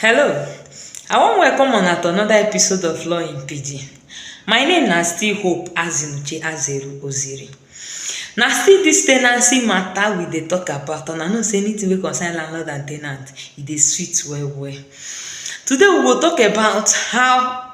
Hello, I wan welcome una to another episode of Law in Pidgin. My name na still Hope Azinuche Azeru Oziri. Na still dis tenancy matter we dey talk about and I know say anything wey concern landlord and tenant, e dey sweet well well. Today we go talk about how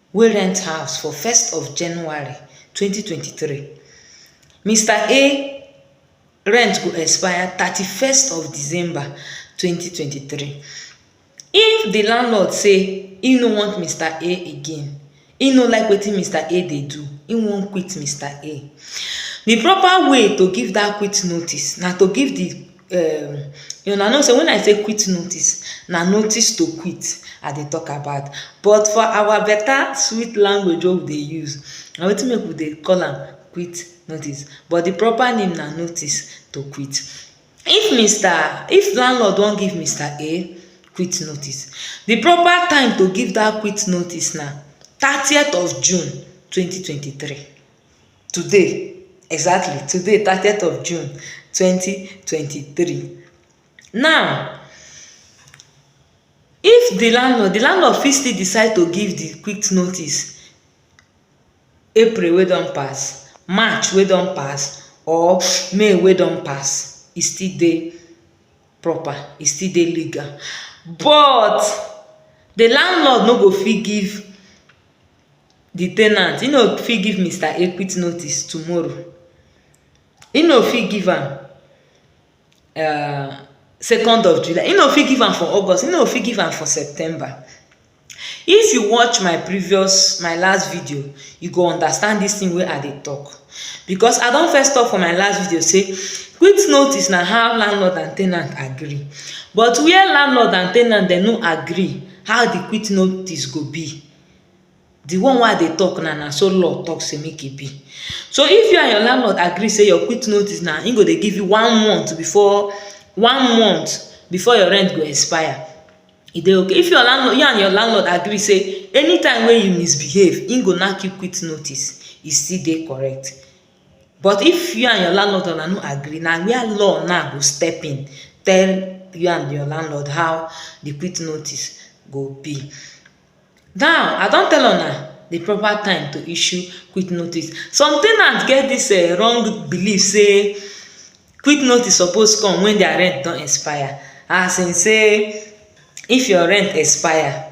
wey rent house for first of January twenty twenty three, Mister A rent go expire thirty first of December twenty twenty three, if di landlord say im no want Mister A again, im no like wetin Mister A dey do, im wan quit Mister A, di proper way to give dat quit notice na to give di. um una know say when I say quit notice, na notice to quit I dey talk about but for our better sweet language wey we dey use, na wetin make we dey call am quit notice but the proper name na notice to quit. If Mister, if landlord wan give Mister A quit notice, the proper time to give dat quit notice na thirtieth of June twenty twenty three. Today, exactly today thirtieth of June twenty twenty three. Now if di landlord di landlord fit still decide to give di quick notice April wey don pass, March wey don pass or May wey don pass e still dey proper e still dey legal but di landlord no go fit give the ten ant, he no fit give Mister A quick notice tomorrow. He no fit give am uh, second of July. He no fit give am for August. He no fit give am for September. If you watch my previous, my last video, you go understand this thing wey I dey talk. Because I don first talk for my last video say, quick notice na how landlord and ten ant agree. But where landlord and ten ant dem no agree, How the quit notice go be? The one wey I dey talk now, na so law talk say make e be. So if you and your landlord agree say your quit notice na im go dey give you one month before one month before your rent go expire, e dey okay. If your landlord you and your landlord agree say anytime wey you misbehave, im go knack you quit notice, e still dey correct. But if you and your landlord una no agree, na where law now go step in tell you and your landlord how the quit notice go be. Now, I don tell una the proper time to issue quit notice. Some ten ants get this um wrong belief say quit notice suppose come when their rent don expire as in say if your rent expire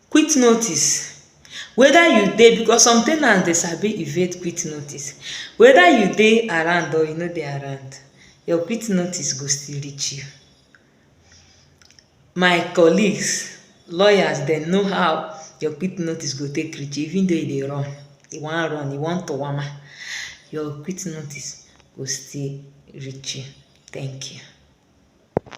Quit notice, weda you dey because some ten ants dey sabi evade quit notice, weda you dey around or you no dey around your quit notice go still reach you. My colleagues, lawyers dem know how your quit notice go take reach you even though you dey run, you wan run, you wan tawama, your quit notice go still reach you. Thank you.